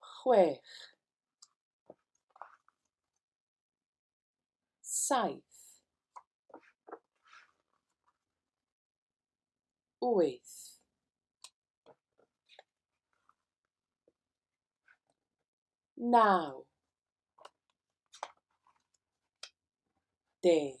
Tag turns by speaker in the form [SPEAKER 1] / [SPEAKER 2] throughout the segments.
[SPEAKER 1] chwech, saith, wyth, naw, deg.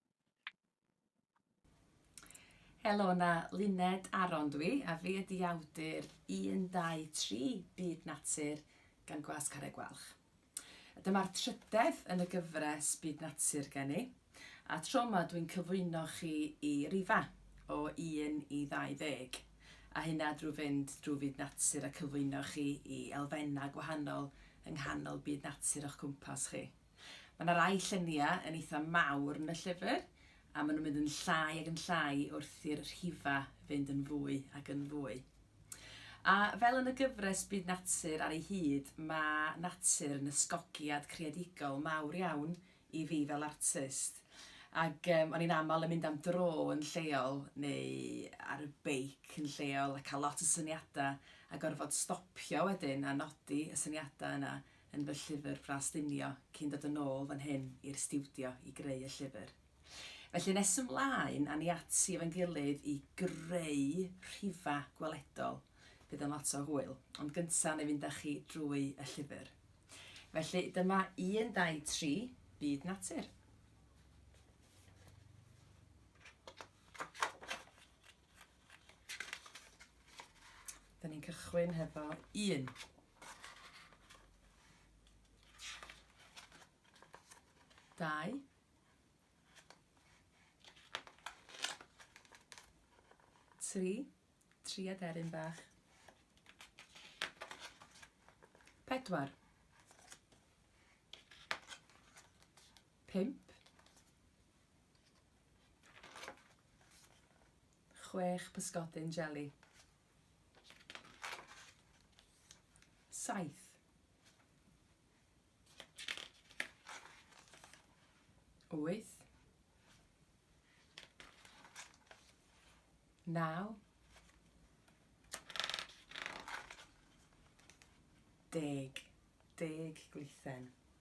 [SPEAKER 1] Helo na, Luned Aron dw i, a fi ydi awdur 123 Byd Natur gan Gwas Carreg Gwalch. Dyma'r trydedd yn y gyfres Byd Natur gen i, a tro yma dwi'n cyflwyno chi i rifa o 1 i 20, a hynna drwy fynd drwy fyd natur a cyflwyno chi i elfennau gwahanol yng nghanol byd natur o'ch cwmpas chi. Mae yna rai lluniau yn eitha mawr yn y llyfr, a maen nhw'n mynd yn llai ac yn llai wrth i'r rhifau fynd yn fwy ac yn fwy. A fel yn y gyfres Byd Natur ar ei hyd, mae natur yn ysgogiad creadigol mawr iawn i fi fel artist. Ac um, o'n i'n aml yn mynd am dro yn lleol neu ar y beic yn lleol a cael lot o syniadau a gorfod stopio wedyn a nodi y syniadau yna yn fy llyfr fras llunio cyn dod yn ôl fan hyn i'r stiwdio i greu y llyfr. Felly nes ymlaen a ni ati efo'n gilydd i greu rhifa gweledol. Bydd yn lot o hwyl. Ond gynta na i fynd â chi drwy y llyfr. Felly dyma un, dau, tri, byd natur. Da ni'n cychwyn hefo un. Dau. Tri. Tri aderyn bach. Pedwar. Pump. Chwech pysgodyn jeli. Saith. Wyth. Naw. Deg. Deg glithen.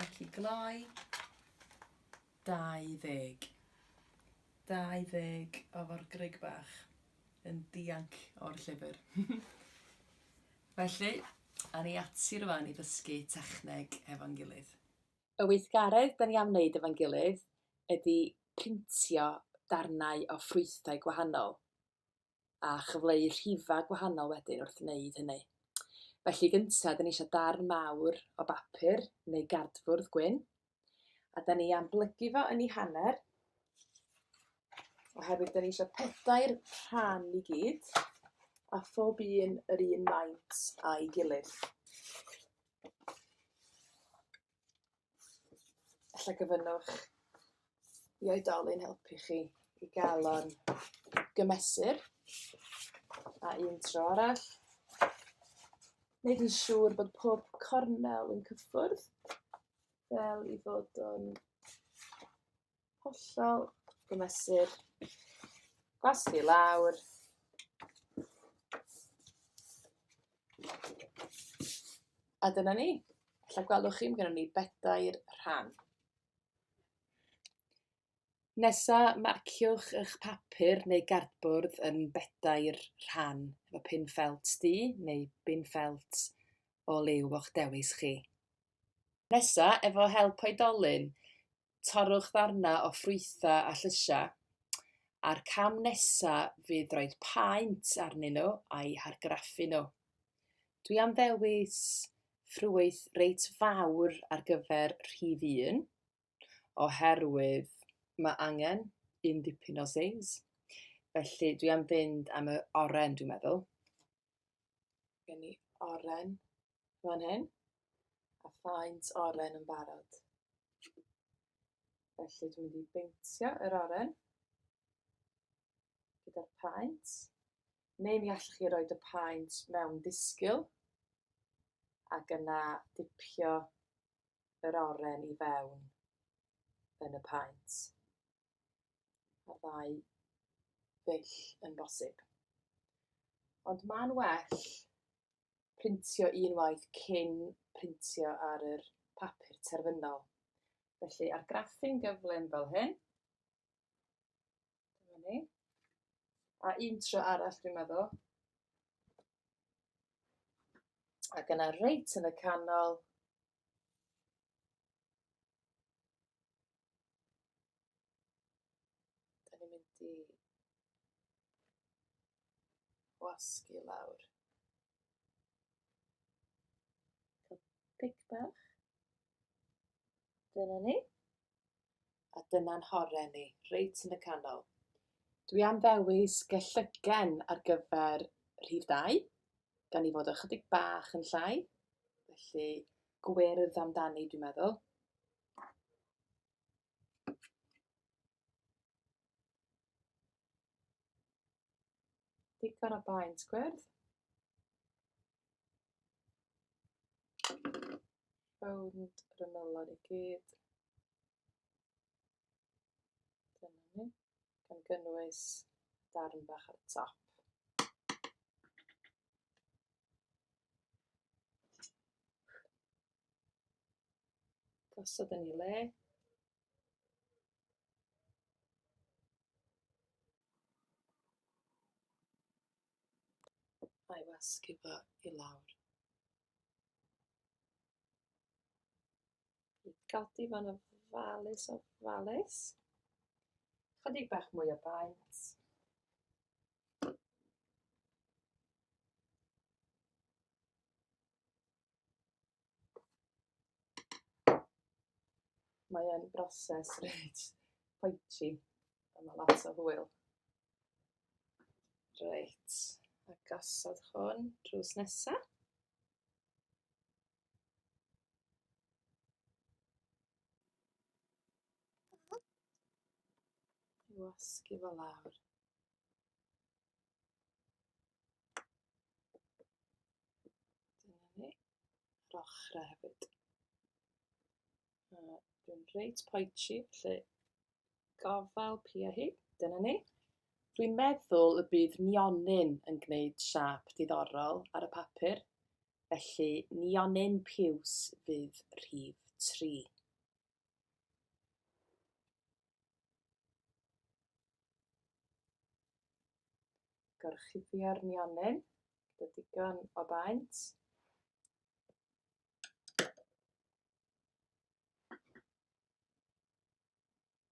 [SPEAKER 1] Ac i gloi, 20. 20 o forgrug bach yn dianc o'r llyfr. Felly, awn ni ati rwan i ddysgu techneg hefo'n gilydd. Y weithgaredd 'da ni am wneud efo'n gilydd ydi printio darnau o ffrwythau gwahanol. a chyfleu rhifau gwahanol wedyn wrth wneud hynny. Felly gyntaf, dyn ni eisiau darn mawr o bapur neu gardfwrdd gwyn, a dyn ni am blygu fo yn ei hanner, oherwydd dyn ni eisiau pedair rhan i gyd, a phob un yr un maint a'i gilydd. Alla gyfynnwch i oedolyn helpu chi i gael o'n gymesur. A un tro arall. Wneud yn siŵr bod pob cornel yn cyffwrdd fel i fod o'n Hollol. Gymesur. Gwas i lawr. A dyna ni. Alla gwelwch chi, mae gennym ni bedair rhan. Nesa, marciwch eich papur neu gardbwrdd yn bedair rhan, efo pin ffelt du neu bin ffelt o liw o'ch dewis chi. Nesa, efo help oedolyn, torrwch ddarnau o ffrwythau a llysiau, a'r cam nesaf fydd rhoi paent arnyn nhw a'u hargraffu nhw. Dwi am ddewis ffrwyth reit fawr ar gyfer rhif un, oherwydd mae angen un dipyn o seis. Felly dwi am fynd am y oren dwi'n meddwl. Gen ni oren fan hyn, a faint oren yn barod. Felly dwi'n mynd i beintio yr oren gyda'r paent, neu mi allwch chi roed y paent mewn disgyl, ac yna dipio yr oren i fewn yn y paent. y ddau ddull yn bosib. Ond mae'n well printio un waith cyn printio ar yr papur terfynol. Felly, ar graffu'n gyflym fel hyn, dyma ni, a un tro arall dwi'n meddwl, ac yna reit yn y canol, Da ni'n mynd i wasgu lawr. Pic bach. Dyna ni. A dyna'n horen ni, reit yn y canol. Dwi am ddewis gellygen ar gyfer rhif 2, gan i fod ychydig bach yn llai. Felly, gwyrdd amdani dwi'n meddwl. Digon o baent gwyrdd. Rownd yr ymylon i gyd. Dyna ni. Gan gynnwys darn bach ar y top. Gosod yn ei le. A'i wasgu fo i lawr. I godi fan y falus o falus. Chydig bach mwy o baent. Mae'n broses reit pointy. Mae lot o hwyl. Reit, a gosod hwn drws nesaf. Wasgu fo lawr. Dyna ni. Yr ochrau hefyd. Dwi'n reit poetsi, lle gofal pia hi. Dyna ni. Dwi'n meddwl y bydd nionyn yn gwneud siap diddorol ar y papur. Felly, nionyn piws fydd rhif tri. Gorchuddio'r nionyn, gyda digon o baent.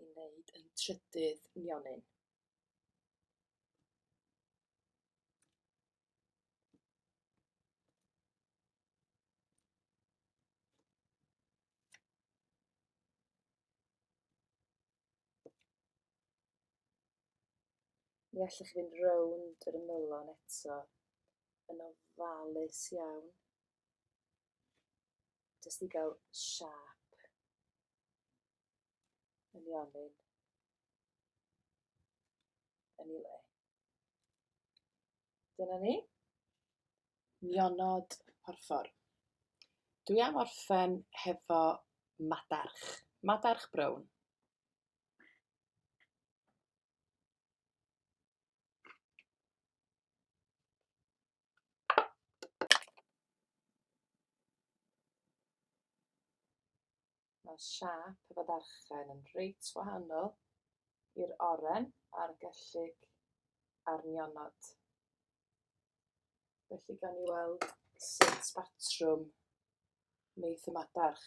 [SPEAKER 1] i wneud ein trydydd nionyn. Mi allwch chi fynd rownd yr ymylon eto yn ofalus iawn. Jyst i gael siap yn ionyn yn ei le. Dyna ni. Nionod porffor. Dwi am orffen hefo madarch. Madarch brown. Mae siâp y badarchen yn reit wahanol i'r oren a'r gellyg a'r nionod. Felly gan i weld sut batrwm wneith y madarch.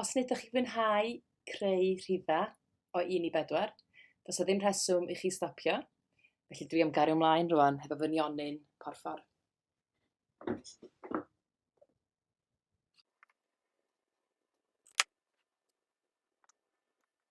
[SPEAKER 1] Os nid ydych chi'n fwynhau creu rhifau o 1 i 4, does o ddim rheswm i chi stopio. Felly dwi am gario ymlaen rwan hefo fy nionyn porffor.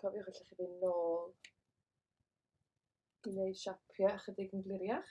[SPEAKER 1] Cofiwch allwch chi fynd nôl i wneud siapiau ychydig yn gliriach.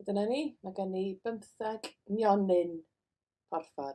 [SPEAKER 1] A dyna ni, mae gen i bymtheg nionyn porffor.